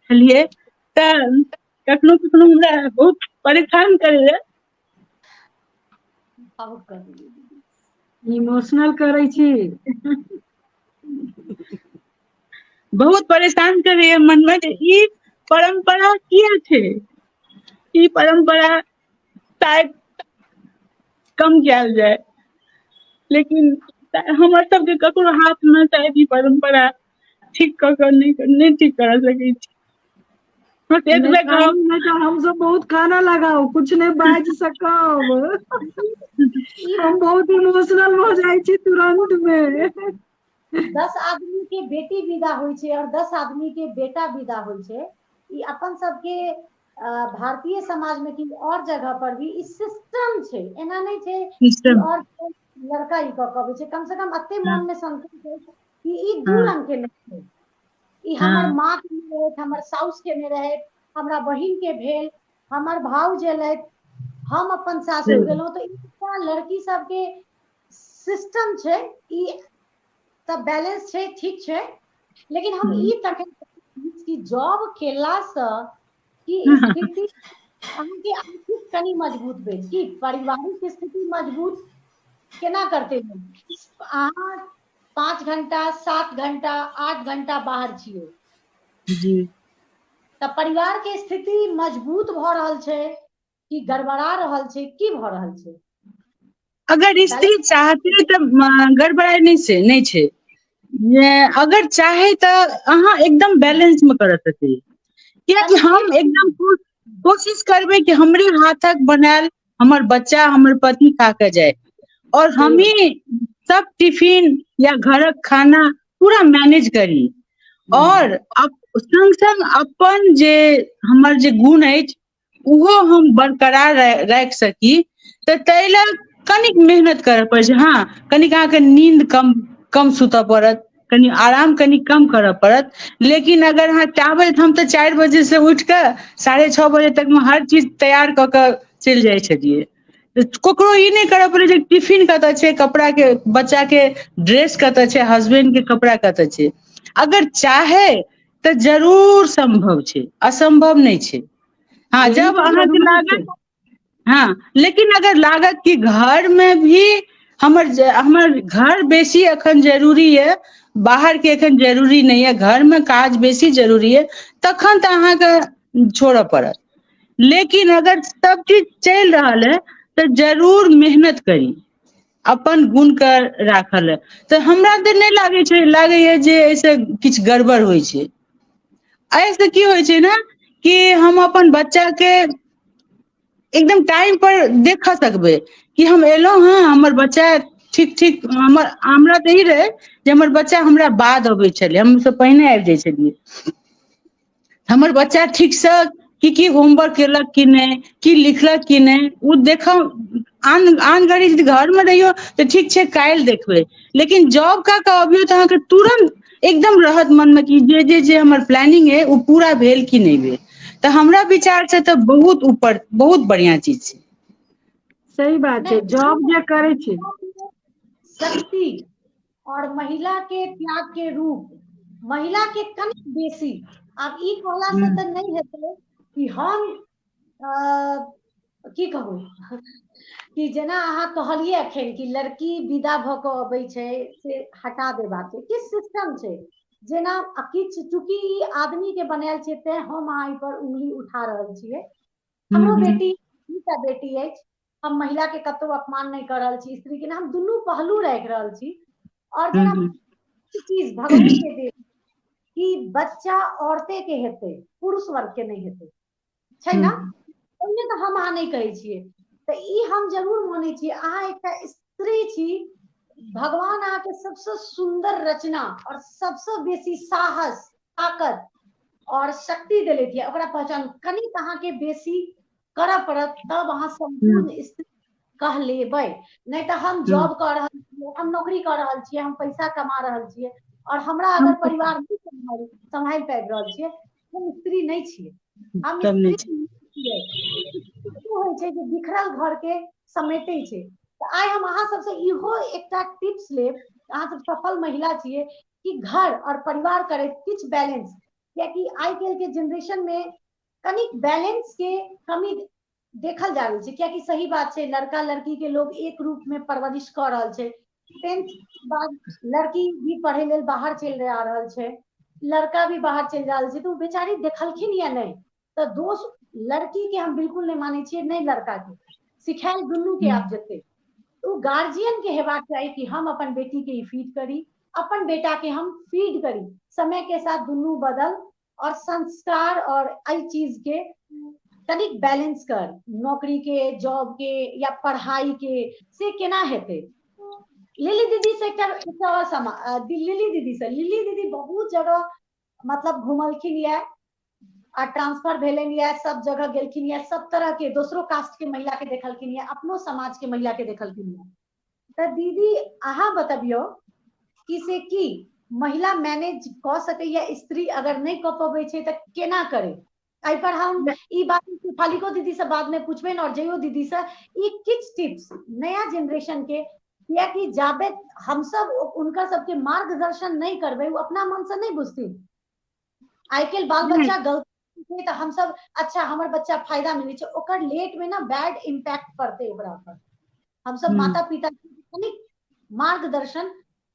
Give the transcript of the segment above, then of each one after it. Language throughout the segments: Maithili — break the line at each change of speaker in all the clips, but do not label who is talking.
छलियै तऽ कखनो कखनो हमरा बहुत परेशान करैया आब
कर इमोशनल करै छी
बहुत परेशान करैया मनमे जे ई परम्परा किया छै ई परम्परा शायद कम कयल जाय लेकिन हमर सबके ककरो हाथ मे शायद ई परम्परा ठीक क क नहि नहि ठीक करा सकै छी बस नहि एतबे कान कहब मे त
हमसब बहुत कानऽ लगाउ कुछ नहि बाजि सकब ई हम बात बहुत इमोशनल भ जाइ छी तुरन्त मे दस
आदमी के बेटी विदा होइ छै आओर दस आदमी के बेटा विदा होइ छै ई अपन सबके भारतीय समाज में कि और जगह पर भी ई सिस्टम छै एना नहीं छै सिस्टम और
लड़का
ई कऽ कबै छै कम से कम अते हाँ। मन में संतोष छै कि ई दू हाँ। रंग के नहीं छै ई हाँ। हमर माँ के नहीं रहत
हमर
साउस के नहीं रहत हमरा बहिन के भेल हमर भाव जेलत हम अपन सासुर गेलहुँ तऽ ई लड़की सबके सिस्टम छै ई तऽ बैलेंस छै ठीक छै लेकिन हम हम्म। ई तखन कि जॉब केलासँ ई स्थिति अहाँके आर्थिक कनि मजबूत भेल की पारिवारिक स्थिति मजबूत केना करतै अहाँ पाँच घण्टा सात घण्टा आठ घण्टा बाहर छियै जी तऽ परिवार के स्थिति मजबूत भऽ रहल छै की गड़बड़ा
रहल छै की भऽ रहल छै अगर स्त्री चाहते तऽ गड़बड़ाइ नहि छै नहि छै अगर चाहे तऽ अहाँ एकदम बैलेंस में कर सकी कियाकि हम एकदम कोशिश करबै कि हमरे हाथक बनायल हमर बच्चा हमर पति खा के जाए और हम ही सब टिफिन या घर खाना पूरा मैनेज करी हम्म। और संग संग अपन जे हमर जे गुण अछि ओहो हम बरकरार राखि सकी तऽ ताहि ल कनिक मेहनत करय पड़ै छै हँ कनिक अहाँके नीन्द कम कम सुतय पड़त कनि आराम कनि कम करय पड़त लेकिन अगर अहाँ चाहबै तऽ हम तऽ चारि बजे से उठि कऽ साढ़े छओ बजे तक मे हर चीज तैयार कऽ के चलि जाइ छलियै ककरो ई नहि करऽ पड़ै जे टिफिन कतऽ छै कपड़ा के बच्चा के ड्रेस कतऽ छै हसबेंड के कपड़ा कतऽ छै अगर चाहे तऽ जरूर सम्भव छै असम्भव नहि छै हँ ई जब तऽ अहाँके जरूरी
छै
लागत
हँ
लेकिन अगर लागत कि घरमे भी हमर जे हमर घर बेसी एखन जरूरी यए बाहरके एखन जरूरी नहि यए घरमे काज बेसी जरूरी य तखन तऽ अहाँके छोड़ऽ पड़त लेकिन अगर सब चीज चलि रहल है तऽ जरूर मेहनत करी अपन गुण के राखल ह तऽ हमरा तऽ नहि लागै छै लागैए जे एहिसँ किछु गड़बड़ होइ छै एहिसँ की होइ छै ने कि हम अपन बच्चाके एकदम टाइम पर देख सकबै कि हम एलहुं हं हमर बच्चा ठीक ठीक हमर हमरा तऽ ई रहै जे हमर बच्चा हमरा बाद अबै छलै हम सब पहिने आबि जाइ छलियै हमर बच्चा ठीकसँ की की होमवर्क केलक कि नहि की लिखलक कि नहि ओ देखब आन आन घड़ी यदि घरमे रहियौ तऽ ठीक छै काल्हि देखबै लेकिन जॉब कऽ कऽ अबियौ तऽ अहाँके तुरन्त एकदम रहत मनमे कि जे जे जे हमर प्लानिंग अइ ओ पूरा भेल कि नहि भेल तऽ हमरा विचार से तऽ बहुत ऊपर बहुत बढ़ियाँ चीज छै सही बात छै जॉब
जे करै
छै शक्ति और महिला के त्याग के रूप महिला के कम बेसी आब ई कहला से हम्म। तऽ नहि हेतै कि हम की कहू कि जेना अहाँ कहलियै एखन कि लड़की विदा भऽ कऽ अबै छै से हटा देबाक छै किछु सिस्टम छै जेना किछु चूँकि ई आदमीके बनायल छै तैँ हम अहाँ एहिपर उंगली उठा रहल छियै हमरो हूँ बेटी दूटा बेटी अछि हम महिला के कतौ अपमान नहि कर रहल छी स्त्री के हम दुनू पहलू राखि रहल छी आओर हूँ जेना हूँ चीज भगवती के देल कि बच्चा औरते के हेतै पुरुष वर्ग के नहि हेतै छै हूँ ने ओहिमे तऽ हम अहाँ नहि कहै छियै तऽ ई हम जरूर मानै छियै अहाँ एकटा स्त्री छी भगवान अहाँके सबसँ सुन्दर रचना आओर सबसँ बेसी साहस ताकत और शक्ति दिले दिया ओकरा पहचान कनी कहा के बेसी कर पड़त तब अहाँ संपूर्ण स्त्री कह लेबे नहीं तो हम जॉब कर रहा छियै हम नौकरी कर रहा छियै हम पैसा कमा रहा छियै और हमरा अगर परिवार नहीं संभाल संभाल पाबि रहल छियै हम स्त्री नहीं छियै हम स्त्री होइ छै जे बिखरल घर के समेटे छै आइ हम अहाँ सबसे इहो एकटा टिप्स लेब अहाँ सब सफल महिला छियै कि घर और परिवार करे किछ बैलेंस कियाकि आइ काल्हि के जनरेशन में कनिक बैलेंस के कमी देखल जा रहल छै कियाकि सही बात छै लड़का लड़की के लोग एक रूप में परवरिश कऽ रहल छै टेंथ बाद लड़की भी पढ़े लेल बाहर चलि जा रहल छै लड़का भी बाहर चलि रहल छै तऽ ओ बेचारी देखलखिन या नहि तऽ दोष लड़की के हम बिल्कुल नहि मानै छियै नहि लड़का के सिखायल दुनू के आब जेतै ओ गार्जियन के हेबाक चाही कि हम अपन बेटी के ई फीड करी अपन बेटा के हम फीड करी समय के साथ दुनू बदल और संस्कार और एहि चीज के कनिक बैलेंस कर नौकरी के जॉब के या पढ़ाई के से केना हेतै लिली दीदी से एकटा एकटा और समा अ, दि- लिली दीदी से लिली दीदी बहुत जगह मतलब घुमलखिन यऽ आ ट्रांसफर भेलन यऽ सब जगह गेलखिन यऽ सब तरह के दोसरो कास्ट के महिला के देखलखिन यऽ अपनो समाज के महिला के देखलखिन यऽ तऽ दीदी अहाँ बतबियो कि से की महिला मैनेज कऽ सकैया स्त्री अगर नहि कऽ पबै छै तऽ केना करे एहि पर हम ई बात फालिको दीदी से बाद में पूछबे और जयो दीदी से ई किछ टिप्स नया जनरेशन के या कि जाबे हम सब उनका सबके मार्गदर्शन नहीं करबे वो अपना मन से नहीं बुझती आई के बाल बच्चा गलत छै तऽ हमसब अच्छा हमर बच्चा फायदा मिलै छै ओकर लेट में ना बैड इम्पैक्ट पड़ते ओकरा पर हमसब माता पिता कनिक मार्गदर्शन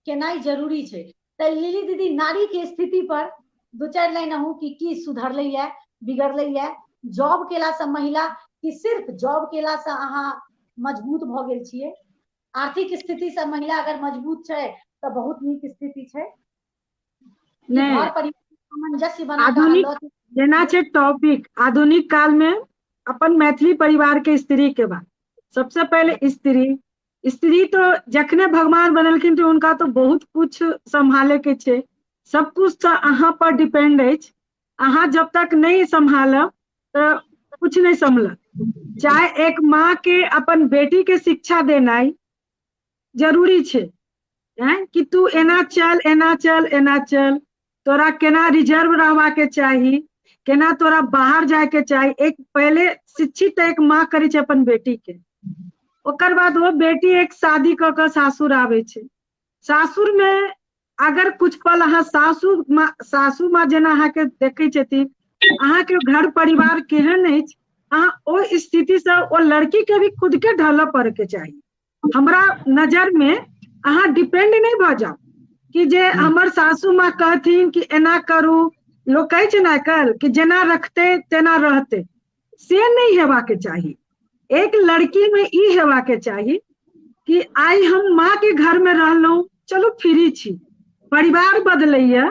केनाइ जरूरी छै तऽ लिली दीदी नारी के स्थिति पर दू चारि लाइन अहूँ की की सुधरले ये बिगड़ले ये जॉब केला से महिला कि सिर्फ जॉब केला से अहाँ मजबूत भऽ गेल छियै आर्थिक स्थिति से महिला अगर मजबूत छै तऽ बहुत नीक स्थिति छै कि नहि। घर परिवार के सामंजस्य बना कऽ आधुनिक- अहाँ लऽ- जेना
छै टॉपिक आधुनिक काल में अपन मैथिली परिवार के स्त्री के बात सबसे पहले स्त्री स्त्री तो जखने भगवान बनेलखिन तऽ हुनका तऽ बहुत कुछ सम्हाले के छै सब कुछ तऽ अहाँ पर डिपेंड अछि अहाँ जब तक नहि सम्हालब तऽ कुछ नहि सम्हलत चाहे एक माँ के अपन बेटी के शिक्षा देनाइ जरूरी छै हैं कि तू एना चल एना चल एना चल तोरा केना रिजर्व रहवा के चाही केना तोरा बाहर जाए के चाही एक पहले शिक्षित एक माँ करे छे अपन बेटी के ओकर बाद वो बेटी एक शादी क के सासुर आवे छे सासुर में अगर कुछ पल अहाँ सासु माँ सासु माँ जेना अहाँ के देखे छथिन अहाँ के घर परिवार केहन अछि अहाँ ओ स्थिति से ओ लड़की के भी खुद के ढल पड़ के चाही हमरा नजर में अहाँ डिपेंड नहीं भ जाओ कि जे हमर सासू माँ कहथिन कि एना करू लोग कहै छै ना कल कि जेना रखते तेना रहते से नहीं हेबा के चाहिए एक लड़की में ई हेबा के चाहिए कि आई हम माँ के घर में रहलौं चलू फ्री छी परिवार बदलैया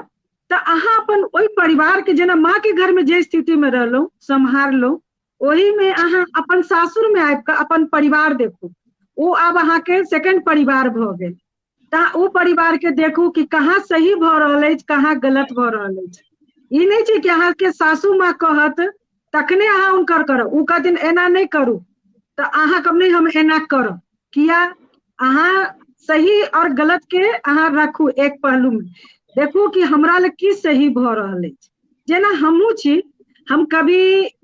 तऽ अहाँ अपन ओहि परिवार के जेना माँ के घर में जे स्थिति में रहलौं सम्हारलौं ओहिमे अहाँ अपन सासुरमे आबि कऽ अपन परिवार देखू ओ आब अहाँके सेकेंड परिवार भऽ गेल तऽ ओ परिवारके देखू कि कहाँ सही भऽ रहल अछि कहाँ गलत भऽ रहल अछि ई नहि छै कि अहाँके सासू माँ कहत तखने अहाँ हुनकर करब ओ कहथिन एना नहि करू तऽ अहाँ कहब नहि हम एना करब किया अहाँ सही और गलत के अहाँ रखू एक पहलू में देखू कि हमरा ले की सही भ रहल अछि जेना हमहूँ छी हम कभी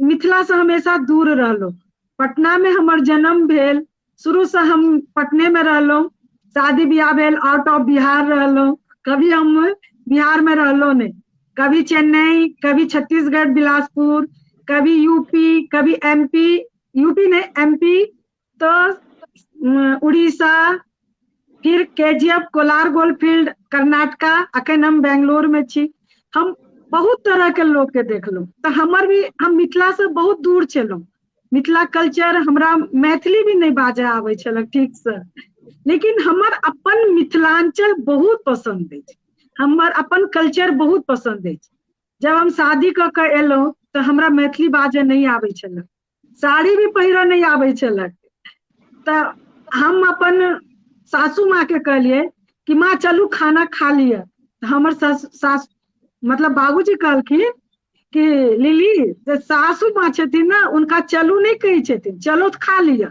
मिथिला से हमेशा दूर रहलहुँ पटना में हमर जन्म भेल शुरू से हम पटने में रहलहुँ शादी ब्याह भेल आउट ऑफ बिहार रहलहुँ कभी हम बिहार में रहलहुँ नहीं कभी चेन्नई कभी छत्तीसगढ़ बिलासपुर कभी यूपी कभी एमपी यूपी नहीं एमपी तऽ उड़ीसा फिर K G F Kolar gold field Karnataka अखन हम बेंगलोर में छी हम बहुत तरह के लोग के देखलहुँ तऽ हमर भी हम मिथिला से बहुत दूर छलहुँ मिथिला कल्चर हमरा मैथिली भी नहीं बाजय आबै छलक ठीक से लेकिन हमर अपन मिथिलांचल बहुत पसंद अछि हमर अपन कल्चर बहुत पसंद अछि जब हम शादी कऽ के एलहुँ तऽ हमरा मैथिली बाजय नहीं आबै छलक साड़ी भी पहिरऽ नहि आबै छलक तऽ हम अपन सासू माँ के कहलियै कि माँ चलू खाना खा लिअ तऽ हमर सास सास मतलब बाबूजी कहलखिन कि लिली जे सासू माँ छथिन ने हुनका चलू नहि कहै छथिन चलो तऽ खा लिअ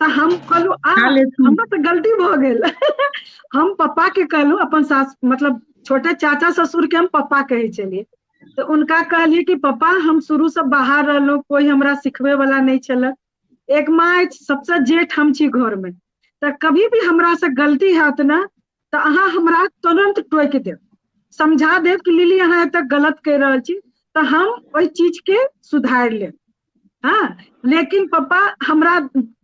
तऽ हम कहलू आ खा लेथिन। हमरा तऽ गलती भऽ गेल हम पप्पा के कहलू अपन सास मतलब छोटे चाचा ससुर के हम पप्पा कहै छलियै तऽ उनका कहलियै कि पापा हम शुरूसँ बाहर रहलहुँ कोइ हमरा सिखबैवला नहि छलए एक माँ अछि सभसँ जेठ हम छी घरमे तऽ कभी भी हमरासँ गलती हैत ने तऽ अहाँ हमरा तुरन्त टोकि देब समझा देब कि लिली अहाँ एतऽ गलत कहि रहल छी तऽ हम ओहि चीजके सुधारि लेब हँ लेकिन पप्पा हमरा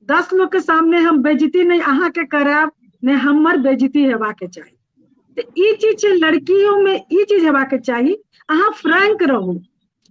दस लोकके सामने हम बेजती नहि अहाँके करायब नहि हमर बेजती हेबाके चाही तऽ ई चीज छै लड़कियोमे ई चीज हेबाके चाही अहाँ फ्रैंक रहू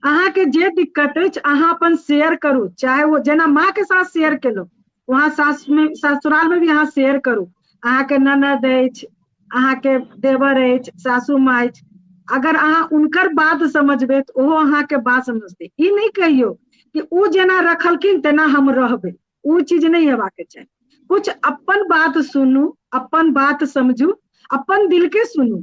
अहाँके जे दिक्कत अछि अहाँ अपन शेयर करू चाहे ओ जेना माँके साथ शेयर केलहुँ वहाँ सास मे ससुराल मे भी अहाँ शेयर करू अहाँके ननद अछि अहाँके देवर अछि सासु माँ अछि अगर अहाँ हुनकर बात समझबै तऽ ओहो अहाँके बात समझतै ई नहि कहियौ कि ओ जेना रखलखिन तेना हम रहबै ओ चीज नहि हेबाक चाही कुछ अपन बात सुनू अपन बात समझू अपन दिल के सुनू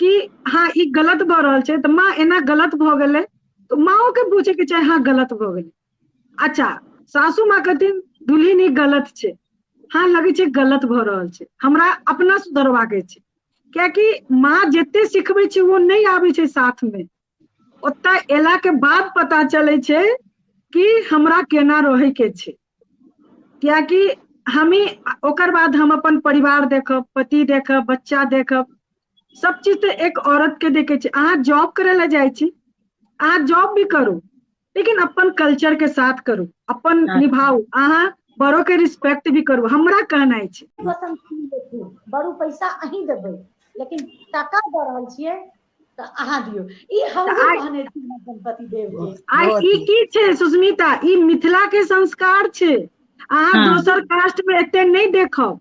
कि हाँ ई गलत भऽ रहल छै तऽ माँ एना गलत भऽ गेलै तऽ माँओ के बुझे के चाही हाँ गलत भऽ गेलै अच्छा सासू माँ कहथिन दुलहिन ई गलत छै हँ लगै छै गलत भऽ रहल छै हमरा अपना सुधरबाक छै कियाकि माँ जते सिखबै छै ओ नहि आबै छै साथमे ओतय एला के बाद पता चलै छै कि हमरा केना रहै के छै कियाकि हमी ओकर बाद हम अपन परिवार देखब पति देखब बच्चा देखब सब चीज तऽ एक औरत के देखे छै अहाँ जॉब करै लए जाइ छी अहाँ जॉब भी करू लेकिन अपन कल्चर के साथ करू अपन अच्छा। निभाऊ अहाँ बड़ो के रिस्पेक्ट भी करू हमरा कहनाइ छै वतन की देखू
बड़ू पैसा अहीं देबै लेकिन टाका दऽ रहल छियै तऽ अहाँ दियौ ई हम तऽ आइ- कहने छी हमरा गणपति देव के आइ बहुत ई नीक। की
छै सुस्मिता ई मिथिला के संस्कार छै अहाँ हाँ। दोसर कास्ट में एते नहीं देखब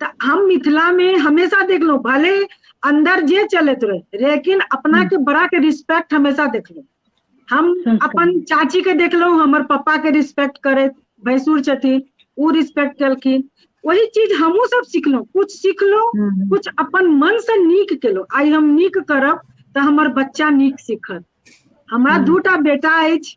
तऽ हम मिथिला में हमेशा देखलो भले अंदर जे चलत रहे लेकिन अपना के बड़ा के रिस्पेक्ट हमेशा देखलो हम हम्म। संस्कार। अपन चाची के देखलो हमर पापा के रिस्पेक्ट करे भैंसुर छथिन उ रिस्पेक्ट केलखिन वही चीज हमहू सब सीखलो कुछ सीखलो हम्म। कुछ अपन मन से नीक केलो आई हम नीक करब तऽ हमर बच्चा नीक सीखत हमरा हम्म। दूटा बेटा अछि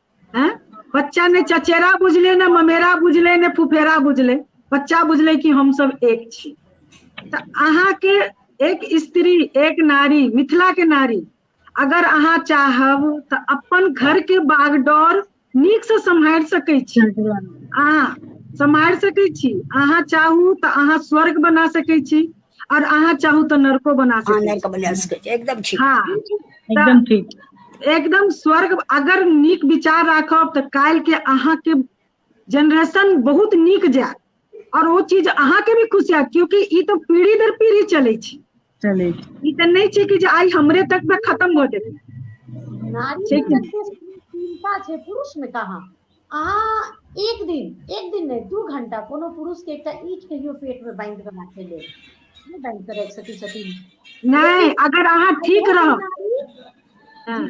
हैं बच्चा ने चचेरा बुझले ने ममेरा बुझले ने फुफेरा बुझले बच्चा बुझले कि हम सब एक छी तऽ अहाँ के एक स्त्री एक नारी मिथिला के नारी अगर अहाँ चाहब तऽ अपन घर के बागडोर नीक से सम्हारि सकै छी अहाँ सम्हारि सकै छी अहाँ चाहू तऽ अहाँ स्वर्ग बना सकै छी आओर अहाँ चाहू तऽ नर को बना अहाँ सकै नहि कऽ बना छी सकै छी एकदम ठीक हँ
तऽ
एकदम ठीक
एकदम
स्वर्ग अगर नीक विचार राखब तऽ काल्हि के अहाँके जेनरेशन बहुत नीक जायत आओर ओ चीज अहाँके भी खुश हत क्यकि ई तऽ पीढ़ी दर पीढ़ी चलै छै चलै छै ई तऽ नहि छै कि जे आइ हमरे तक मे खतम भऽ जेतै नारी छै कि नहि
चिन्ता छै पुरुष मे कहाँ अहाँ एक दिन एक दिन नहि दू घंटा कोनो पुरुष के एकटा ईट कहियो पेट में बांध के राखे ले नहि बांध के राखि सकै छथिन नहि अगर
अहाँ ठीक रह हाँ।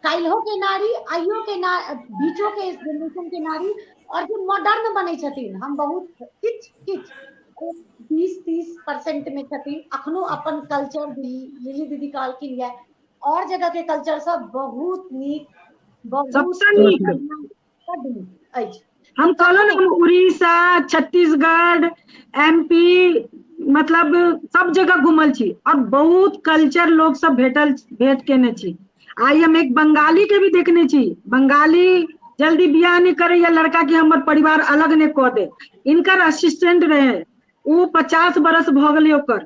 काल्हिो के नारी आइयो के ना बीचो के जनरेशन के नारी और जो मॉडर्न बने छथिन हम बहुत किच किच बीस तीस परसेंट में छथिन अखनो अपन कल्चर लिली दीदी कहलखिन यह आओर जगह के कल्चर सब
बहुत नीक बहुत सबसँ नीक। बड्ड नीक
अछि हम कहलहुँ
ने हम उड़ीसा छत्तीसगढ़ एम पी मतलब सब जगह घुमल छी आओर बहुत कल्चर लोक सब भेटल भेट केने छी आइ हम एक बंगाली के भी देखने छी बंगाली जल्दी बियाह नहि करैया लड़का के हमर परिवार अलग नहि कऽ दे इनकर असिस्टेंट रहै ओ पचास बरस भऽ गेलै ओकर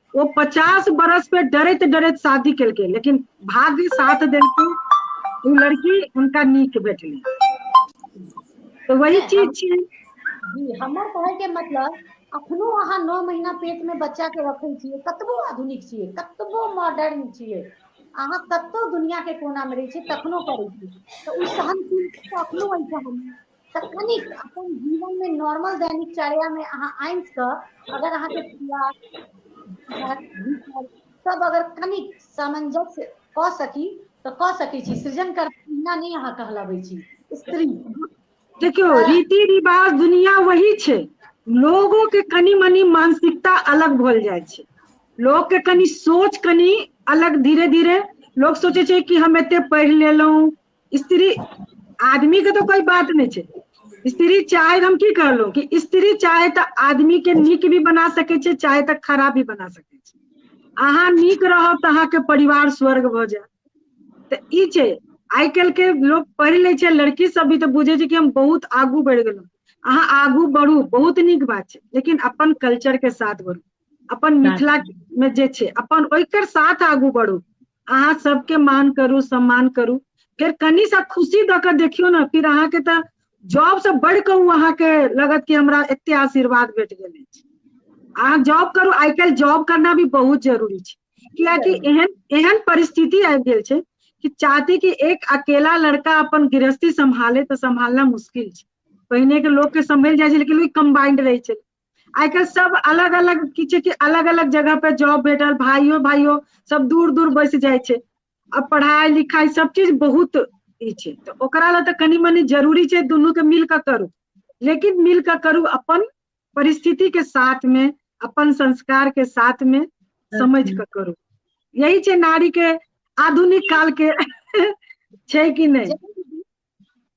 वो पचास बरस पे डरैत डरैत शादी केलकै लेकिन भाग्य साथ देलकै ओ लड़की हुनका नीक भेटली तो वही नहि, चीज छी जी हमर
कहै के मतलब अखनो अहाँ नौ महीना पेट में बच्चा के रखै छियै कतबो आधुनिक छियै कतबो मॉडर्न छियै अहाँ कतौ दुनिया के कोना में रहै छियै तखनो करै छियै तऽ ओ सहनशीलता अखनो अछि हम तऽ कनि अपन जीवन मे नॉर्मल दैनिक चर्या मे अहाँ आन कऽ अगर अहाँके सब अगर कनि सामंजस्य कऽ सकी तऽ कऽ सकैत छी सृजन कर बिना नहि अहाँ कहलाबे छी स्त्री देखियौ
तऽ रीति रिवाज दुनिया वही छै लोगो के कनि मनी मानसिकता अलग भल जाइ छै लोक के कनि सोच कनि अलग धीरे धीरे लोक सोचै छै कि हम एते पढ़ि लेलहुँ स्त्री आदमी के तऽ कोई बात नहि छै स्त्री चाहे हम की कहलहुँ कि स्त्री चाहे तऽ आदमी के नीक भी बना सकै छै चाहे तऽ खराब भी बना सकै छै अहाँ नीक रहब तऽ अहाँके परिवार स्वर्ग भऽ जायत तऽ ई छै आइ काल्हि के लोक पढ़ि लै छै लड़की सब भी तऽ बुझै छै कि हम बहुत आगू बढ़ि गेलहुँ अहाँ आगू बढ़ू बहुत नीक बात छै लेकिन अपन कल्चर के साथ बढ़ू अपन मिथिला मे जे छै अपन ओहिकर साथ आगू बढ़ू अहाँ सबके मान करू सम्मान करू फिर कनी सा खुशी दऽ कऽ देखियौ ने फिर अहाँके तऽ जॉब से बढ़ कऽ ओ अहाँके लगत कि हमरा एते आशीर्वाद भेट गेल अछि अहाँ जॉब करू आइ काल्हि जॉब करना भी बहुत जरूरी छै कियाकि एहन एहन परिस्थिति आबि गेल छै कि चाहती कि एक अकेला लड़का अपन गृहस्थी सम्हाले तऽ सम्हालना मुश्किल छै पहिने के लोग के सम्हल जाइ छै लेकिन ओ कम्बाइंड रहै छै आइ काल्हि सब अलग अलग किछु कि अलग अलग जगह पर जॉब भेटल भाइयो भाइयो सब दूर दूर बैस जाइ छै आ पढ़ाइ लिखाइ सब चीज बहुत ई छै तऽ ओकरा लए तऽ कनि मनी जरूरी छै दुनू के मिल कऽ करू लेकिन मिल कऽ करू अपन परिस्थिति के साथ में अपन संस्कार के साथ में समझ कऽ करू यही छै नारी के आधुनिक काल के छै कि नहीं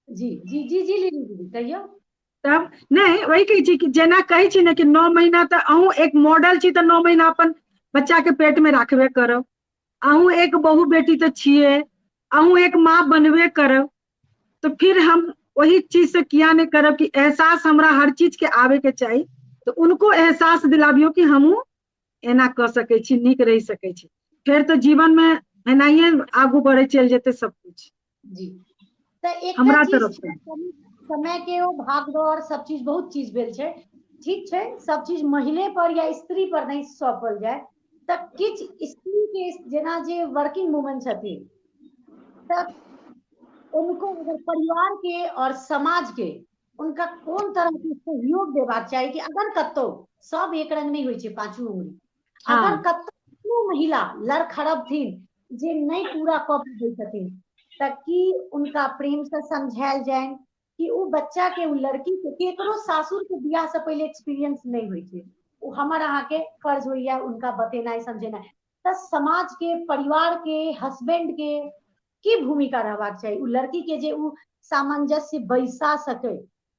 जी
जी जी जी लीली दीदी कहियो तब नहि
वही कहै छी कि जेना कहै छी ने कि नओ महीना तऽ अहूँ एक मॉडल छी तऽ नओ महीना अपन बच्चाके पेटमे राखबे करब अहूँ एक बहु बेटी तऽ छियै अहूँ एक माँ बनबे करब तऽ फिर हम वही चीज से किया नहि करब कि एहसास हमरा हर चीज के आबे के चाही तऽ उनको एहसास दिलाबियो कि हमहूँ एना कऽ सकै छी नीक रहि सकै छी फेर तऽ जीवन मे एनाहिए आगू बढ़े चलि जेतै सब कुछ जी
तऽ एकटा हमरा चीज तरफ छै, से
समय के
ओ भागदौड़ सब चीज बहुत चीज भेल छै ठीक छै सब चीज महिले पर या स्त्री पर नहि सौपल जाय तऽ किछु स्त्री के जेना जे वर्किंग वूमन छथिन तऽ उनको अगर परिवार के और समाज के उनका कोन तरह के सहयोग देबाक चाही कि अगर कतौ सब एक रंग नहीं होइ छै पांचू उंगली हाँ। अगर कतौ कोनो
महिला
लड़ खड़बथिन जे नहीं पूरा कऽ पबै छथिन तऽ की उनका प्रेम से समझायल जाइन कि ओ बच्चा के ओ लड़की के केकरो सासुर के बियाह से पहले एक्सपीरियंस नहीं होइ छै ओ हमर अहाँ के फर्ज होइया उनका बतेनाइ समझेनाइ तऽ समाज के परिवार के हस्बैंड के की भूमिका रहबाक चाही ओ लड़की के जे ओ सामंजस्य बैसा सके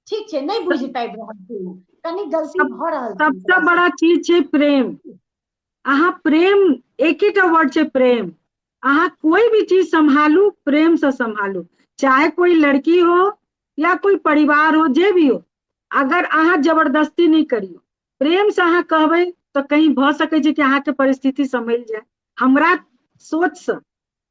ठीक छै नहि बुझि पाबि रहल छै ओ कनि गलती भऽ रहल छै सबसे
बड़ा
चीज छै
प्रेम अहाँ प्रेम एकेटा वर्ड छै प्रेम अहाँ कोई भी चीज संभालू प्रेम से संभालू चाहे कोई लड़की हो या कोई परिवार हो जे भी हो अगर अहाँ जबरदस्ती नहीं करियो प्रेम से अहाँ कहबै तो कहीं भ सकै छै कि अहाँ के परिस्थिति संभल जाए हमरा सोच से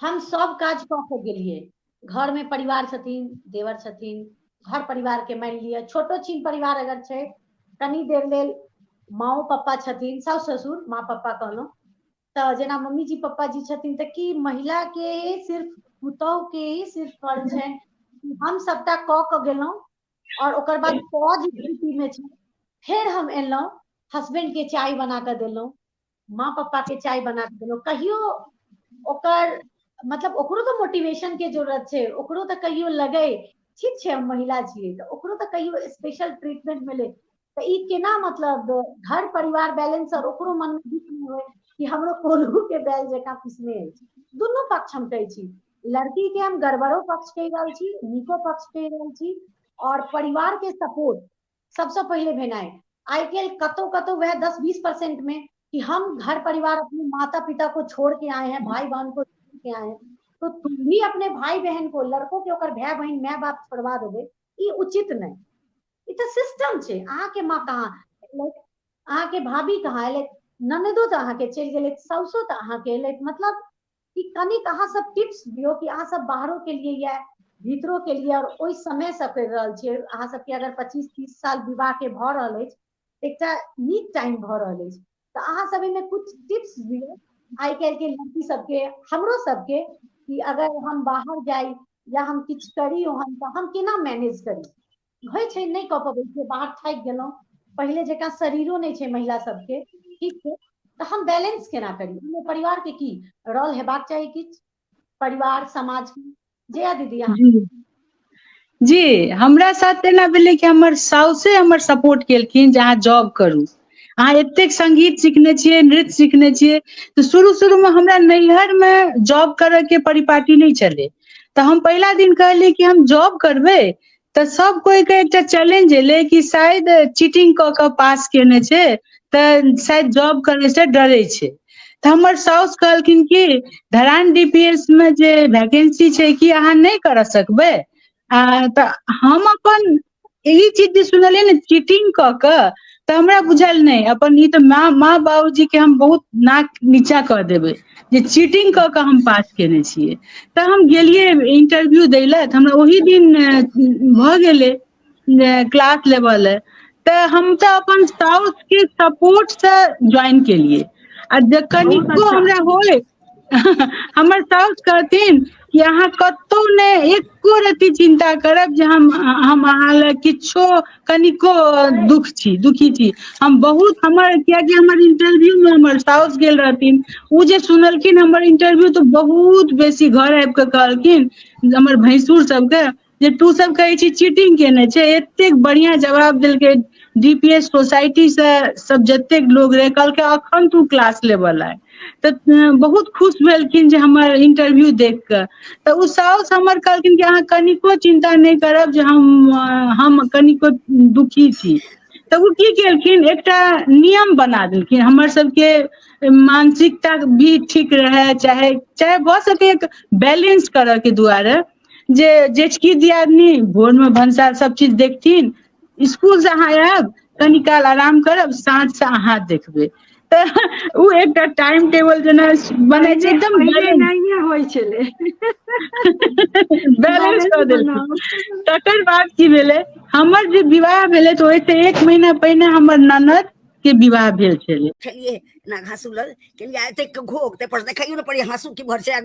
हम सब काज कऽ के गेलियै घर में परिवार छथिन देवर छथिन घर परिवार के मानि लिअ छोटो छीन परिवार अगर छै कनी देर लेल माओ पप्पा छथिन साउस ससुर माँ पप्पा कहलहुँ तऽ जेना मम्मी जी पप्पा जी छथिन तऽ की महिला के सिर्फ पुतहु के ही सिर्फ फर्ज छै हम सबटा कऽ के गेलहुँ और ओकर बाद पौज स्थिति में छै फेर हम एलहुँ हस्बैंड के चाय बना कऽ देलहुँ माँ पप्पा के चाय बना के देलहुँ कहियो ओकर मतलब ओकरो तऽ मोटिवेशन के जरूरत छै ओकरो तऽ कहियो लगै ठीक छै हम महिला छियै तऽ ओकरो तऽ कहियो स्पेशल ट्रीटमेंट मिलै तऽ ई केना मतलब घर परिवार बैलेंस और ओकरो मन में दुख नहीं होय कि हमरो कोल्हू के बैल जकाँ पिसने अछि दुनू पक्ष हम कहै छी लड़की के हम गड़बड़ो पक्ष कहि रहल छी नीको पक्ष कहि रहल छी और परिवार के सपोर्ट सबसँ पहिले भेनाइ आइ काल्हि कतौ कतौ वएह दस बीस परसेंट में कि हम घर परिवार अपने माता पिता को छोड़ के आए हैं भाई बहन को छोड़ के आए हैं तो तुम भी अपने भाई बहन को लड़को के ओकर भाई बहन माय बाप छोड़वा देबै ई उचित नहि ई तऽ सिस्टम छै अहाँके माँ कहाँ एलथि अहाँके भाभी कहाँ एलथि ननदो तऽ अहाँके चलि गेलथि साउसो तऽ अहाँके एलथि मतलब कि कनिक अहाँ सब टिप्स दियो कि अहाँ सब बाहरो के लिए या भीतरो के लिए और ओहि समय से कर रहल छियै अहाँ सब के अगर 25 30 साल विवाह के भ रहल अछि एकटा नीक टाइम भ रहल अछि तऽ अहाँ सब एहिमे कुछ टिप्स दियो आइ काल्हि के लड़की सबके हमरो सबके कि अगर हम बाहर जाई या हम किछु करी ओहन तऽ हम केना मैनेज करी होइ छै नहि कऽ पबै छै बाहर थाकि गेलहुँ पहिले जकाँ शरीरो नहि छै महिला सबके ठीक छै तऽ हम बैलेंस केना करी ओहिमे परिवारके की रोल हेबाक चाही किछु परिवार समाज जया दीदी अहाँ
जी जी हमरा साथ एना भेलै कि हमर साउसे हमर सपोर्ट केलखिन जे अहाँ जॉब करू अहाँ एतेक संगीत सिखने छियै नृत्य सिखने छियै तऽ शुरू शुरूमे हमरा नैहरमे जॉब करयके परिपाटी नहि छलै तऽ हम पहिला दिन कहलियै कि हम जॉब करबै तऽ सब कोइ के एकटा चैलेंज एलै कि शायद चीटिंग कऽ कऽ पास केने छै तऽ शायद जॉब करै से डरे छै तऽ हमर साउस कहलखिन की धरान डी पी एस मे जे वैकेंसी छै कि अहाँ नहि करऽ सकबै आ तऽ हम अपन ई चीज जे सुनलियै ने चीटिंग कऽ कऽ तऽ हमरा बुझायल नहि अपन ई तऽ माँ माँ बाबूजी के हम बहुत नाक नीचा कऽ देबै जे चीटिंग कऽ कऽ हम पास केने छियै तऽ हम गेलियै इंटरव्यू दै लए तऽ हमरा ओहि दिन भऽ गेलै जे क्लास लेबऽ ले तऽ हम तऽ अपन साउस के सपोर्ट से ज्वाइन केलियै आ ज कनिको बहुत अच्छा हमरा
होय
हमर साउस कहथिन कि अहाँ कतौ ने एको रति चिन्ता करब जे हम हम अहाँ ले किछो कनिको दुःख छी दुखी छी हम बहुत हमर कियाकि हमर इंटरव्यू मे हमर साउस गेल रहथिन ओ जे सुनलखिन हमर इंटरव्यू तऽ बहुत बेसी घर आबि कऽ कहलखिन हमर भैंसुर सबके जे तू सब कहै छी चीटिंग केने छै एतेक बढ़िया जवाब देलकै डी पी एस सोसाइटी से सब जतेक लोग रहे कहलकै अखन तू क्लास लेबल आय तऽ बहुत खुश भेलखिन जे हमर इंटरव्यू देख कऽ तऽ ओ साउस हमर कहलखिन कि अहाँ कनिको चिन्ता नहि करब जे हम हम कनिको दुखी छी तऽ ओ की केलखिन एकटा नियम बना देलखिन हमर सबके मानसिकता भी ठीक रहै चाहे चाहे भऽ सकै बैलेंस करऽ के दुआरे जे जेचकी दियादनी भोर मे भनसार सब चीज देखथिन स्कूल से अहाँ आयब कनि काल आराम करब साँझ से अहाँ देखबै तऽ ओ एकटा टाइम टेबल जेना बनै छै पहिले एकदम पहिले बैलेंस नहिए होइ
छलै
बैलेंस कऽ देलखिन तकर
बाद की
भेलै हमर जे विवाह भेलै तऽ ओहिसँ एक महीना पहिने हमर ननद के विवाह भेल छलै छलिए ना घासू
लग के लिए एते घोग ते पर देखैयो ने पड़ी हासू की भर छै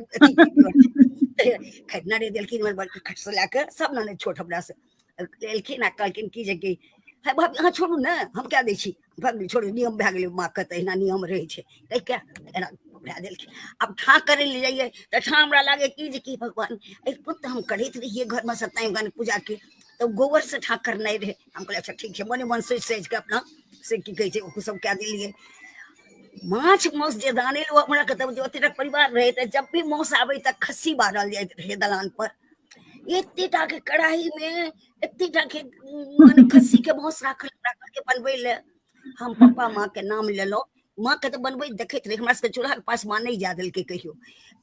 खैतना रे देलखिन हमर बड़की खट से लाके सब ना छोट हमरा से लेलखिन आ कहलखिन की जे कि है भाभी अहाँ छोड़ू ने हम क्या दै छी भाभी छोड़ू नियम भए गेलै माँ के तहिना नियम रहै छै कहि के एना भए देलखिन आब ठाँ करै लए जाइए तऽ ठाँ हमरा लागै की जे कि भगवान एहि पुत हम करैत रहियै घरमे सत्यनारायण पूजाके तऽ गोबरसँ ठाँ करनाइ रहै हम कहलियै अच्छा ठीक छै मने मन सोचि सोचि कऽ अपना से की कहै छै ओ सब कए देलियै माछ मास जे दाने ओ हमरा के तब ओतेटा परिवार रहै तऽ जब भी मास आबै तऽ खस्सी बारल जाइत रहै दलान पर एतेटा के कढ़ाई मे एतेटा के मने खस्सी के मास राखल राखल के बनबै ले हम पप्पा माँ के नाम लेलहुँ माँके तऽ बनबैत देखैत रही हमरा सबके चूल्हाके पास माँ नहि जाए देलकै कहियो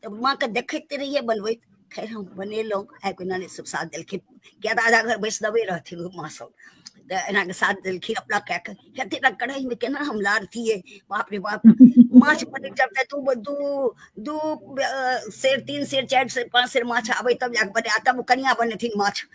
तऽ माँके देखैत रहियै बनबैत खैर हम बनेलहुँ आबि कऽ नानी सब साथ देलखिन किया तऽ आधा घर बैष्णवे रहथिन ओ माँ सब तऽ एनाके साथ देलखिन अपना कए कऽ हेतै टा कढ़ाइमे केना हम लारतियै बाप रे बाप माछ बनै जब तक दू दू दू अ, सेर तीन सेर चारि सेर पाँच सेर माछ आबै तब जाके बने आ तब ओ कनिया बनेथिन माछ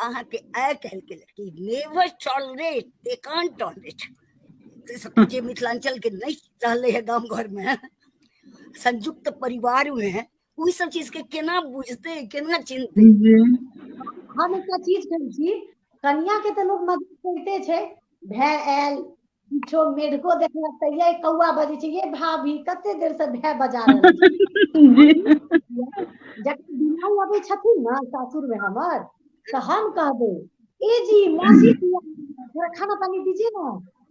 अहाँके आइ काल्हिके लड़की नेवर टॉलरेट दे कान टॉलरेट जे मिथिलाञ्चलके नहि रहलै है गाम घरमे संयुक्त परिवारमे ओहि सब चीजके केना बुझतै केना चिन्हतै
हम एकटा चीज कहै छी कनियाके तऽ लोक मदद करिते छै भाय आयल किछो मेढ़को देखलक तऽ यै कौआ बजै छै यै भाभी कते देर से भए बजा रहल छी जखन बिमारी अबै छथिन ने सासुर मे हमर तऽ हम कहबै ए जी मौसी थोड़ा खाना पानी दीजिए ने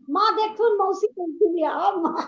माँ देखथुन मौसी कहलखिन आब माँ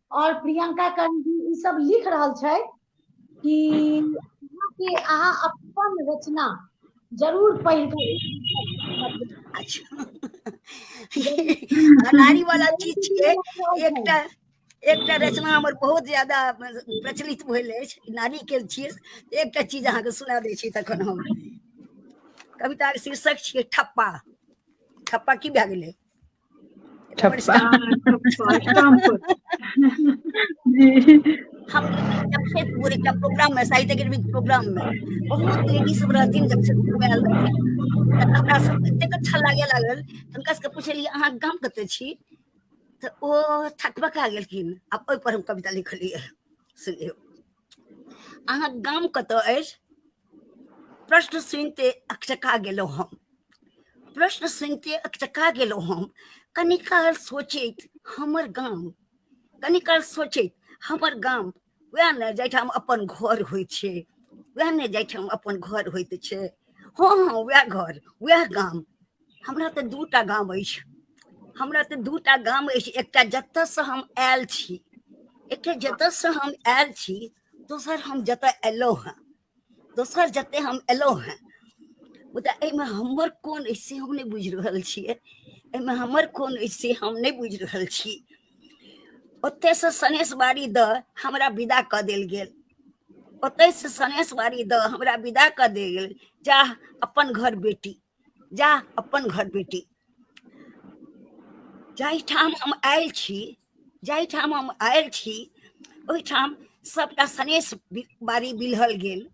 और प्रियंका कंजी ई सब लिख रहल छै कि अहाँके अहाँ अपन रचना जरूर पढ़ि अच्छा
अनारी वाला चीज छियै एकटा एकटा रचना हमर बहुत ज्यादा प्रचलित भेल अछि नारी के छियै एकटा चीज अहाँके सुना दै छी तखन हम कविताक शीर्षक छियै ठप्पा ठप्पा की भए गेलै ठप्पा हम जमशेदपुर एकटा प्रोग्राम मे साहित्य अकेडमी के प्रोग्राम मे बहुत लेडी सब रहथिन जमशेदपुर मे आयल रहथिन तऽ हमरा सब एतेक अच्छा लागे लागल तऽ हुनका सबके पूछलियै अहाँ गाम कतऽ छी तऽ ओ थकबका गेलखिन आब ओहिपर हम कविता लिखलियै सुनियौ अहाँ गाम कतय अछि प्रश्न सुनिते अकचका गेलहुँ हम प्रश्न सुनिते अकचका गेलहुँ हम कनी काल सोचैत हमर गाम कनी काल सोचैत हमर गाम वएह ने जाहिठाम अपन घर होइ छै वएह ने जाहिठाम अपन घर होइत छै हँ हँ वएह घर वएह गाम हमरा तऽ दूटा गाम अछि हमरा तऽ दूटा गाम अछि एकटा जतऽसँ हम आयल छी एकटा जतऽसँ हम आयल छी दोसर हम जतऽ एलहुँ हेँ दोसर जतऽ हम एलहुँ हेँ मुदा एहिमे हमर कोन अछि से हम नहि बुझि रहल छियै एहिमे हमर कोन अछि से हम नहि बुझि रहल छी ओतयसँ सनेशबारी दऽ हमरा विदा कऽ देल गेल ओतयसँ सनेशबारी दऽ हमरा विदा कऽ देल गेल जा अपन घर बेटी जा अपन घर बेटी जाहिठाम हम आयल छी जाहिठाम हम आयल छी ओहिठाम सभटा सनेस बारी बिलहल गेल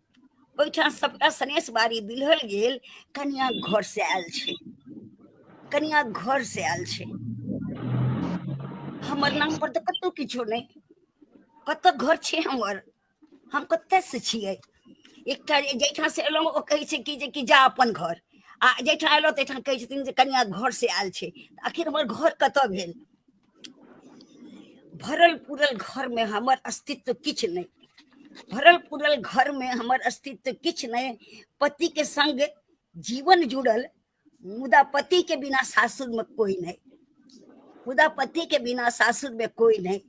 ओहिठाम सभटा सनेस बारी बिलहल गेल कनिया घर से आयल छै कनिया घर से आयल छै हमर नाम पर तऽ कतहु किछो नहि कतऽ घर छै हमर हम कतयसँ छियै एकटा जाहिठाम से एलहुँ ओ कहै छै कि जे कि जा अपन घर आ जाहिठाम एलहुँ ताहिठाम कहै छथिन जे कनिया घर से आयल छै आखिर हमर घर कतऽ भेल भरल पूरल घरमे हमर अस्तित्व किछु नहि भरल पूरल घरमे हमर अस्तित्व किछु नहि पतिके संग जीवन जुड़ल मुदा पति के बिना सासुर में कोई नहीं मुदा पति के बिना सासुर में कोई नहीं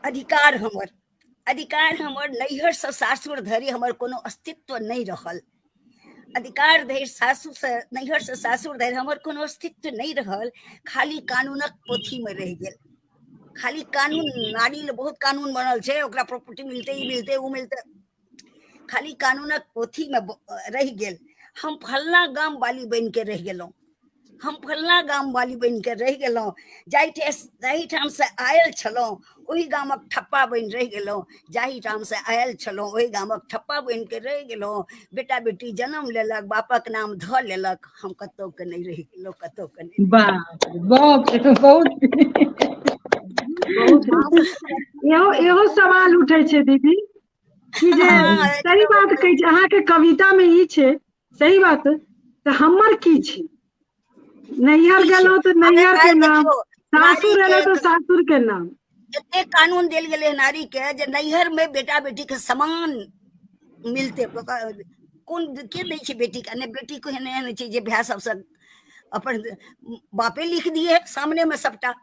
अधिकार हमर अधिकार हमर नैहर से सासुर धरि हमर कोनो अस्तित्व नहीं रहल अधिकार धरि सासुर से नैहर से सासुर धरि हमर कोनो अस्तित्व नहीं रहल खाली कानूनक पोथी में रह गेल खाली कानून नारी ले बहुत कानून बनल छै ओकरा प्रॉपर्टी मिलते ई मिलते ओ मिलते खाली कानूनक पोथीमे रहि गेल हम फलना गाम वाली बनि के रहि गेलहुँ हम फलना गाम वाली बनि के रहि गेलहुँ जाहिठे जाहिठाम से आयल छलहुँ ओहि गामक ठप्पा बनि रहि गेलहुँ जाहिठाम से आयल छलहुँ ओहि गामक ठप्पा बनि के रहि गेलहुँ बेटा बेटी जन्म लेलक बापक नाम धऽ लेलक हम कतौ के नहीं रहि गेलहुँ कतौ के नहीं बहुत बहुत
इहो इहो सवाल उठै छै दीदी ई जे हँ सही एकदम बात कहै एकदम छै अहाँके कविता मे ई छै सही बात तऽ हमर की छै नैहर की छै गेलहुँ तऽ अगर नैहर के आइ नाम देखियौ नारी सासुर के एलहुँ तऽ सासुर के नाम एतेक कानून
देल गेलै ह नारी के जे नैहर मे बेटा बेटी के समान मिलतै कोन के दै छै बेटी के नहि बेटी को एहन एहन छै जे भाय सबसँ अपन बापे लिख दियए सामने मे सबटा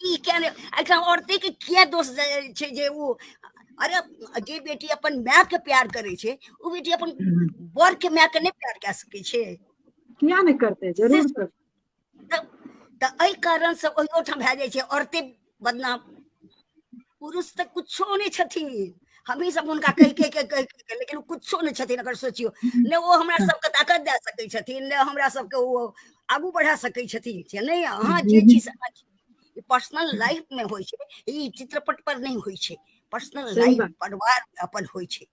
ई किया
नहि एहिठाम औरतेके किया दोष छै जे ओ अरे जे बेटी अपन मायके प्यार करै छै ओ बेटी अपन बरके मायके नहि प्यार कए सकै छै किया नहि
करतै जरूर करतै
तऽ एहि कारणसँ ओहियो ठाम भए जाइ छै औरते बदनाम पुरुष तऽ कुछो नहि छथिन हमही सब हुनका कहि कहि के कहि कहि के लेकिन कुछो नहि छथिन अगर सोचियो ने ओ हमरा सबके ताकत दए सकै छथिन ने हमरा सबके ओ आगू बढ़ा सकै छथिन से नहि अहाँ जे चीज पर्सनल लाइफ में होइ छै ई चित्रपट पर नहि होइ छै पर्सनल लाइफ परिवार
अपन
होइ छै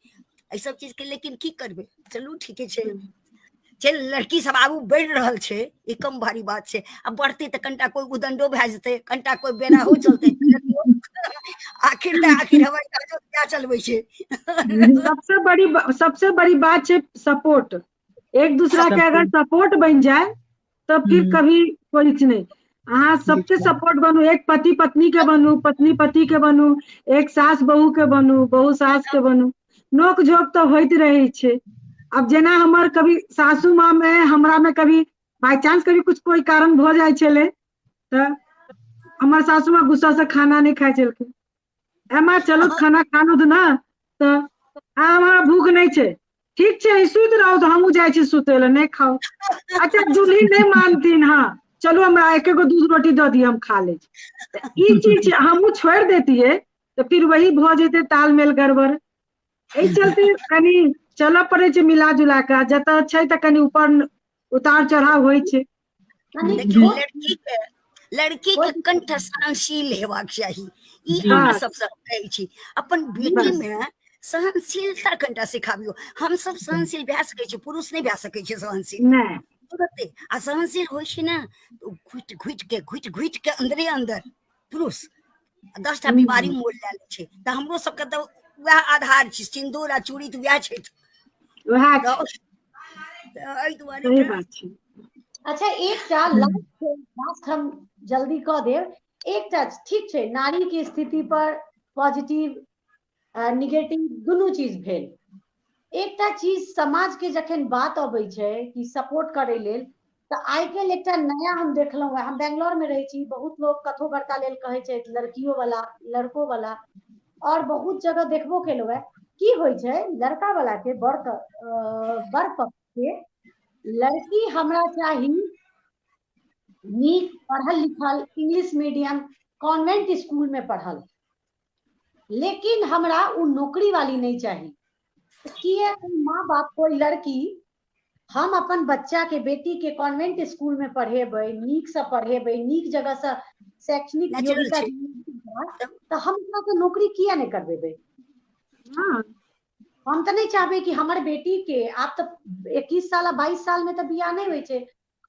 एहि सब चीज के लेकिन की करबै चलू ठीके छै जे लड़की सब आगू बढ़ि रहल छै ई कम भारी बात छै आ बढ़तै तऽ कनिटा कोइ उदंडो भए जेतै कनिटा कोइ बेराहो चलतै आखिर तऽ आखिर हवाई जहाजो क्या चलबै छै सबसे बड़ी
सबसे बड़ी बात छै सपोर्ट एक दूसरा के अगर सबके सपोर्ट बनि जाय तऽ फिर हूँ कभी कोइ च नहि अहाँ सबके बिल्कुल सपोर्ट बनू एक
पति
पत्नी के बनू पत्नी पति के बनू एक सास बहू के बनू बहु सास के बनू नोक झोक तऽ होइत रहै छै आब जेना हमर कभी सासू माँ मे हमरा मे कभी बााय चानंस कभी कुछ कोइ कारण भऽ जाइ छलै तऽ हमर सासु माँ गुस्सा से खाना नहि खाइ छलखिन एमा चलू खाना खानु तऽ ने तऽ आ हमरा भूख नहि छै ठीक छै सुति रहू तऽ हमहूँ जाइ छी सुतै लए नहि खाउ अच्छा जूली नहि मानथिन हँ चलू हमरा एक एगो दूध रोटी दऽ दिअ हम खा लै छी ई चीज हमहूँ छोड़ि देतियै तऽ फिर वही भऽ जेतै तालमेल गड़बड़ एहि चलते कनि चलऽ पड़ै छै मिला जुला कऽ जतऽ छै तऽ कनि ऊपर उतार चढ़ाव होइ छै
देखियौ लड़की
के लड़की के कंठ
सहनशील
हेबाक चाही ई अहाँ सबसँ
कहै
छी अपन बेटी मे
सहनशीलता
कनिटा सिखाबियो हम सब सहनशील भए सकै छी पुरुष नहि भए सकै छै सहनशील तुरते
आ
सहनशील होइ छै ने घुटि घुटि के घुटि घुटि के अन्दरे अन्दर पुरुष दसटा बीमारी मोल लए लै छै तऽ हमरो सबके तऽ वएह आधार छै सिन्दूर आ चूड़ी तऽ वएह छै वएह
एहि
दुआरे
अच्छा
एकटा लास्ट हम जल्दी कऽ देब एकटा ठीक छै नारी के स्थिति पर पॉजिटिव निगेटिव दुनू चीज भेल एकटा चीज समाज के जखन बात अबै छै कि सपोर्ट करै लेल तऽ आइ काल्हि एकटा नया हम देखलहुँ है हम बेंगलोर में रहै छी बहुत लोग कथो बर्ता लेल कहै छै लड़कियों वाला लड़को वाला और बहुत जगह देखबो केलहुँ है की होइ छै लड़का वाला के बर बर पक्ष के लड़की हमरा चाही नीक पढ़ल लिखल इंग्लिश मीडियम कॉन्वेंट स्कूल में पढ़ल लेकिन हमरा उ नौकरी वाली नहीं चाहिए किए माँ बाप कोई लड़की हम अपन बच्चा के बेटी के कॉन्वेंट स्कूल में पढ़ेबै नीक से पढ़ेबै नीक जगह से शैक्षणिक Natural योग्यता छै।
दियेबै, तऽ
हम ओकरा के नौकरी किया नहीं करबेबै हाँ
हम
तऽ नहीं चाहबै कि हमर बेटी के आब तऽ 21 साल आ 22 साल में तऽ बियाह नहीं होय छै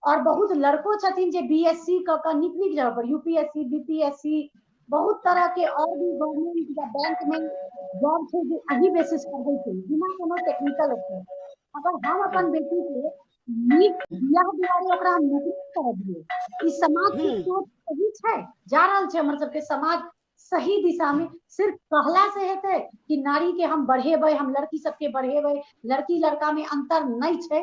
आओर बहुत लड़को छथिन जे बी एस सी कऽ कऽ नीक नीक जगह पर U P S C B P S C बहुत तरह के आओर भी गवर्नमेंट या बैंक में जॉब छै जे एही बेसिस पर होइ छै बिना कोनो टेक्निकल ओकर अगर हम अपन बेटी के नीक बियाह दुआरे ओकरा हम नौकरी कर दिए ई समाज के हम्म। सोच सही छै जा रहल छै हमर सबके समाज सही दिशा में सिर्फ कहला से हेतै कि नारी के हम बढ़ेबै हम लड़की सबके बढ़ेबै लड़की लड़का में अंतर नहि छै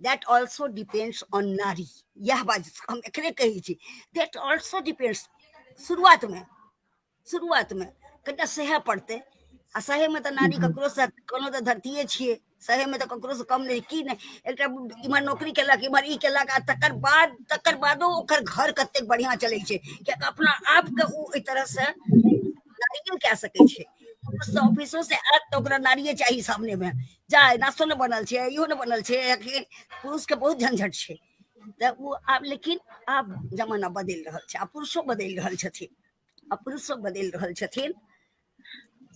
that also depends on nari यह बात हम एकरे कही छी that also depends शुरुआत में शुरुआत में कनिटा सहे पड़ते आ सहे में तो नारी ककरो से कोनो तो धरतीये छिए सहे में तो ककरो से कम नहीं की नहीं एकटा इमहर नौकरी केलक इमहर ई केलक आ तकर बाद तकर बादो ओकर घर कतेक बढ़िया चलै छै कियाकि अपना आप के ओ एहि तरह से नारियो कए सकै छै ऑफिसो से आयत तऽ ओकरा नारिये चाही सामने में चाय नाश्तो ने बनल छै इहो ने बनल छै अखन पुरुष के बहुत झंझट छै तऽ ओ आब लेकिन आब जमाना बदलि रहल छै आ पुरुषो बदलि रहल छथिन आ पुरुषो बदलि रहल छथिन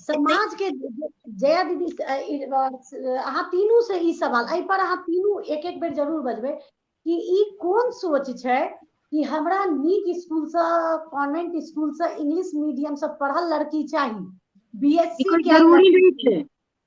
समाज के जया दीदी अहाँ तीनू से ई सवाल एहि पर अहाँ तीनू एक एक बेर जरूर बजबै कि ई कोन सोच छै कि हमरा नीक स्कूल से कॉन्वेंट स्कूल से इंग्लिश मीडियम से पढ़ल लड़की चाहिए बीएससी जरूरी नहीं है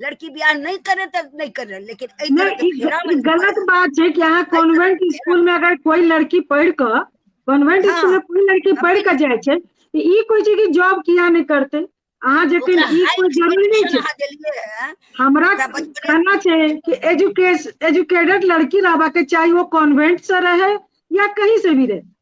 लड़की बियाह नहीं करे तो नहीं करे लेकिन एहि तरह नहीं के ई फेरा ग- में ई गलत बात छै कि
अहाँ कॉन्वेंट स्कूल में अगर कोई लड़की पढ़ क कॉन्वेंट हाँ। स्कूल में कोई लड़की पढ़ क जाय छै तऽ ई कोई छै कि जॉब किया नहीं करते अहाँ जखन ओकरा ई हाई कोई जरूरी नहीं एजुकेशन छै अहाँ देलियै है हमरा ओकरा बचपने- कहना छै कि एजुकेश एजुकेटेड लड़की रहबा के चाही वो कॉन्वेंट से रहे या कहीं से भी रहे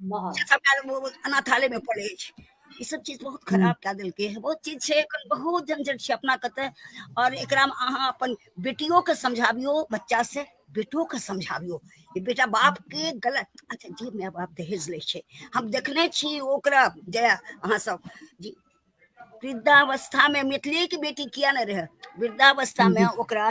से सबटा अनाथालय में पड़े छै ई सब चीज बहुत हम्म। खराब कए देलकै है बहुत चीज छै एखन बहुत झंझट छै अपना कते और एकरा में अहाँ अपन बेटियों के समझाबियो बच्चा से बेटो के समझाबियो कि बेटा बाप के गलत अच्छा जी माय बाप दहेज ले छै हम देखने छी ओकरा जे अहाँ सब जी वृद्धावस्था में मिथिले के बेटी किया नहीं रहे वृद्धावस्था में हम्म। ओकरा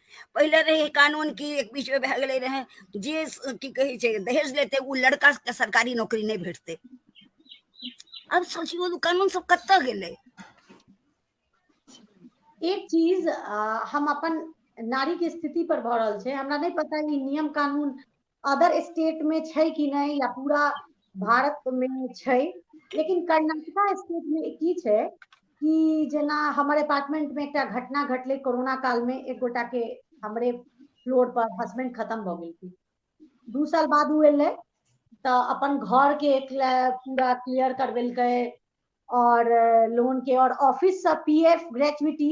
पहिले रहे कानून की एक बीच में भए गेलै रहे जे की कहै छै दहेज लेते ओ लड़का के सरकारी नौकरी नहि भेटतै अब सोचियो तो कानून सब कत गेलै
एक चीज आ, हम अपन नारी के स्थिति पर भऽ रहल छै हमरा नहि पता ई नियम कानून अदर स्टेट में छै कि नहि या पूरा भारत में छै लेकिन कर्नाटका स्टेट में की छै कि जेना हमर अपार्टमेंट में एकटा घटना घटलै कोरोना काल में एक गोटा के हमरे फ्लोर पर हस्बैंड खत्म भऽ गेलखिन दू साल बाद ओ एलै तऽ अपन घर के एक पूरा क्लियर करवेलकै और लोन के और ऑफिस से पीएफ ग्रेचुटी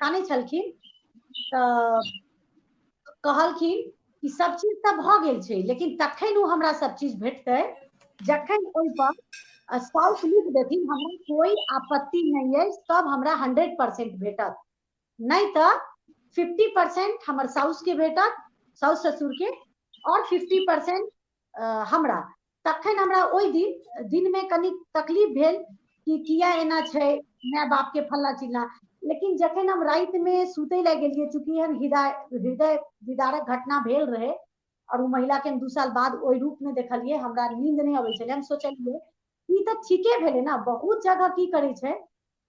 कानै छलखिन तऽ कहलखिन कि सब चीज तऽ भऽ गेल छै लेकिन तखन ओ हमरा सब चीज भेटतै जखन ओहिपर साउस लिख देथिन हमरा कोई आपत्ति नहीं है सब हमरा हंड्रेड परसेंट भेटत नहीं तो फिफ्टी परसेंट हमर साउस के भेटत साउस ससुर के और फिफ्टी परसेंट हमरा तखन हमरा ओहि दिन दिनमे कनि तकलीफ भेल कि किया एना छै माय बापके फल्ला चिल्ला लेकिन जखन हम रातिमे सुतै लए गेलियै चूँकि एहन हृदय हृदय विदारक घटना भेल रहै आओर ओ महिलाके हम दू साल बाद ओहि रूपमे देखलियै हमरा नींद नहि अबै छलै हम सोचलियै ई तऽ ठीके भेलै ने बहुत जगह की करै छै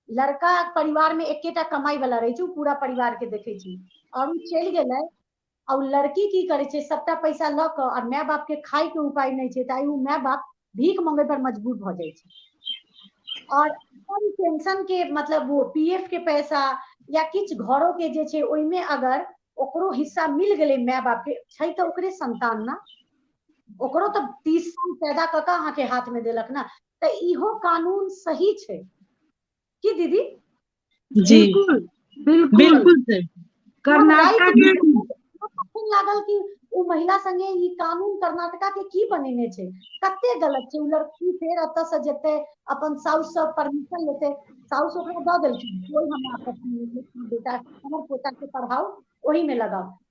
लड़का परिवारमे एकेटा कमाइ वाला रहै छै ओ पूरा परिवारके देखै छै आओर ओ चलि गेलै आ ओ लड़की की करै छै सबटा पैसा लऽ कऽ आ माय बाप के खाय के उपाय नहि छै तऽ ओ माय बाप भीख मंगे पर मजबूर भऽ जाइ छै और अपन पेंशन के मतलब वो पीएफ के पैसा या किछु घरो के जे छै ओहिमे अगर ओकरो हिस्सा मिल गेलै माय बाप के छै तऽ ओकरे संतान ने ओकरो तऽ तीस साल पैदा कऽ कऽ अहाँके हाथ में देलक ने तऽ इहो कानून सही छै की दीदी जी
बिलकुल बिलकुल कर्नाटक के तखन
लागल कि ओ महिला संगे ई कानून कर्नाटका के की बनेने छै कते गलत छै ओ लड़की फेर एतऽ से जेते अपन साउस से परमिशन लेते साउस ओकरा दऽ देलखिन कोई हमरा आपत्ति नहि छै कि बेटा हमर पोता के पढ़ाओ ओही में लगाओ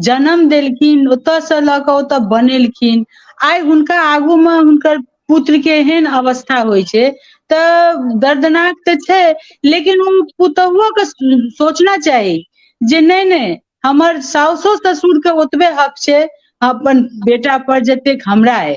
जनम देलखिन ओतयसँ लऽ कऽ ओतऽ बनेलखिन आइ हुनका आगू मे हुनकर पुत्र के एहन अवस्था होइ छै तऽ दर्दनाक तऽ छै लेकिन ओ पुतोहुओ के सोचना चाही जे नहि नहि हमर साउसो ससुर के ओतबे हक छै अपन बेटा पर जतेक हमरा अइ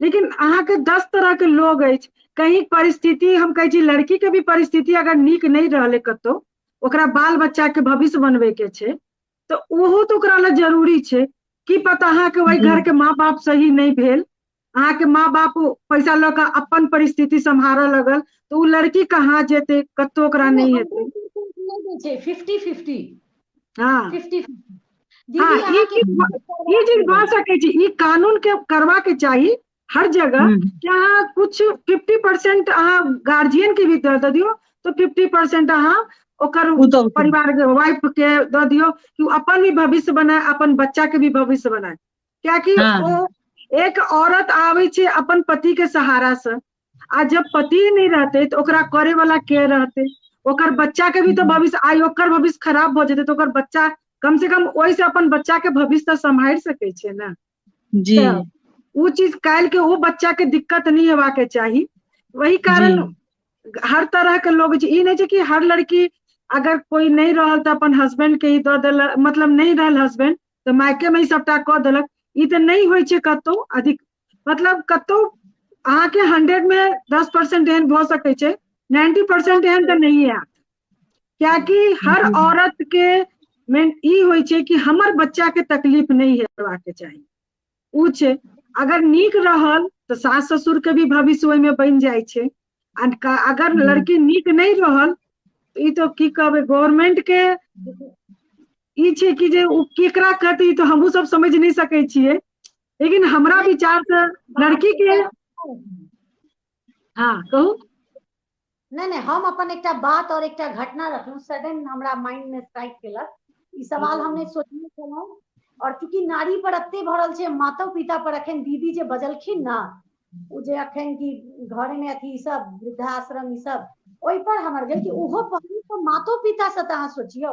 लेकिन अहाँके दस तरह के लोग अछि कहीं परिस्थिति हम कहै छी लड़की के भी परिस्थिति अगर नीक नहि रहलै कतौ ओकरा बाल बच्चा के भविष्य बनबे के छै तऽ ओहो तऽ ओकरा लए जरूरी छै की पता अहाँके ओहि घर के माँ बाप सही नहि भेल अहाँके माँ बाप पैसा लऽ कऽ अपन परिस्थिति सम्हारऽ लगल तऽ ओ लड़की कहाँ जेतै कतौ ओकरा नहि हेतै फिफ्टी फिफ्टी हँ
फिफ्टी हँ
दीदी ई
अहाँके चीज ई चीज भऽ
सकै छै ई कानून के करबाक चाही हर जगह हूँ कि अहाँ कुछ फिफ्टी परसेंट अहाँ गार्जियन के भी दऽ दियौ तऽ फिफ्टी परसेंट अहाँ ओकर पुतहु के परिवार के वाइफ के दऽ दियौ कि ओ अपन भी भविष्य बनाय अपन बच्चा के भी भविष्य बनाय कियाकि हँ ओ एक औरत आबै छै अपन पति के सहारा से आ जब पति ही नहि रहतै तऽ ओकरा करे वाला के रहतै ओकर बच्चा के भी तऽ भविष्य आइ ओकर भविष्य खराब भऽ जेतै तऽ ओकर बच्चा कम से कम ओहिसँ अपन बच्चा के भविष्य तऽ सम्हारि सकै छै ने जी तऽ
ओ चीज
काल्हि के ओ बच्चा के दिक्कत नहि हेबाक के चाही वही कारण हर तरह के लोग छै ई नहि छै कि हर लड़की अगर कोई नहि रहल तऽ अपन हस्बैंड के ही दऽ देलक मतलब नहि रहल हस्बैंड तऽ मायके मे ही सबटा कऽ देलक ई तऽ नहि होइ छै कतहु अधिक मतलब कतौ अहाँके हंड्रेड मे दस परसेंट एहन भऽ सकैत छै नाइन्टी परसेंट एहन तऽ नहि आयत कियाकि हर औरत के मेन ई होइ छै कि हमर बच्चा के तकलीफ नहि हेबाक चाही ओ छै अगर नीक रहल तऽ सास ससुर के भी भविष्य ओहिमे बनि जाइ छै अगर लड़की नीक नहि रहल तऽ ई तो की कहबै गवर्नमेंट के ई छै कि जे ओ केकरा कहतै ई तो हमहूँ सब समझ नहि सकै छियै लेकिन हमरा विचार से लड़की के हाँ कहू नहीं
नहीं हम अपन एक बात और एक घटना रखलू सडन हमारा माइंड में स्ट्राइक केलक ई सवाल हमने सोचने छलहुँ और चूंकि नारी पर एते भरल छै माता पिता पर अखन दीदी जे बजलखिन ना ओ जे अखन की घर में अथी सब वृद्धाश्रम ई सब ओहि पर हमर गेल कि ओहो पहलू तो मातो पिता से तो अहाँ सोचियो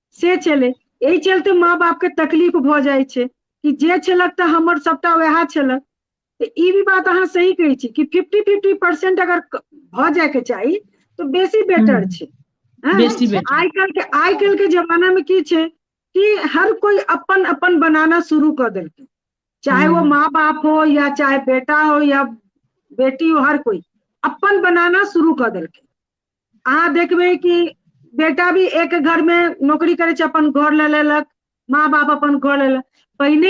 से छलै एहि चलते माँ बापके तकलीफ भऽ जाइ छै कि जे छलक तऽ हमर सभटा वएह छलक तऽ ई भी बात अहाँ सही कहै छी कि फिफ्टी फिफ्टी परसेंट अगर भऽ जायके चाही तऽ बेसी बेटर छै
आइ काल्हिके आइ काल्हिके
जमानामे की छै कि हर कोइ अपन अपन बनाना शुरू कऽ देलकै चाहे वो माँ बाप हो या चाहे बेटा हो या बेटी हो हर कोइ अपन बनाना शुरू कऽ देलकै अहाँ देखबै कि बेटा भी एक घर मे नौकरी करै छै अपन घर ले लेलक माँ बाप अपन घर ले लेलक पहिने